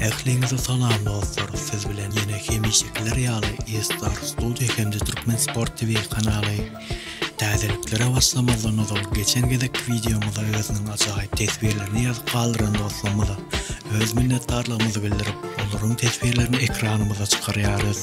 Ähliňize salam dostlar siz bilen ýene hemişekiler ýaly eStar Studio hem-de Türkmen Sport TV kanaly. Täzeliklere başlamazdan ozal geçen gezekki wideomyza özüniň ajaýyp teswirlerini ýazyp galdyran dostlarymyza öz minnetdarlygymyzy bildirip olaryň teswirlerini ekranymyza çykarýarys.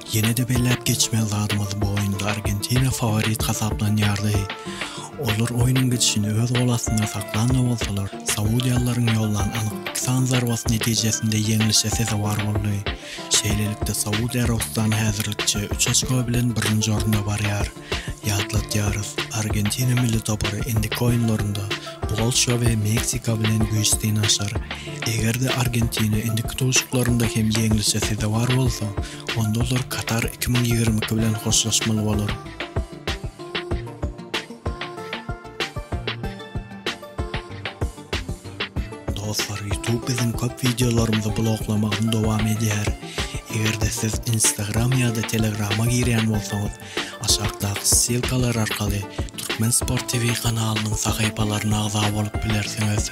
Ýene-de belläp geçmeli zadymyz bu oýunda Argentina faworit hasaplanýardy. Olar oýnuň gidişini öz gol astynda saklan-da bolsalar, saudiýalylaryň ýollan anyk iki sany zarbasy netijesinde ýeňlişe sezewar boldy. Şeýlelikde, Saud Arabystany häzirlikçe üç oçko bilen birinji orunda barýar. Ýatladýarys, Argentina milli topary indiki oýunlarynda Polşa we Meksika bilen güýç synanyşar. Eger-de Argentina indiki duşuşyklarynda hem ýeňlişe sezewar bolsa, onda olar Katar iki müň ýigrimi iki bilen hoşlaşmaly bolar. Dostlar, YouTube biziň köp wideolarymyzy bloklamagyny dowam edýär. Eger-de siz Instagram ýa-da Telegrama girýän bolsaňyz, Aşakdaky ssylkalar arkaly Türkmen Sport TV kanalynyň sahypalaryna agza bolup bilersiňiz.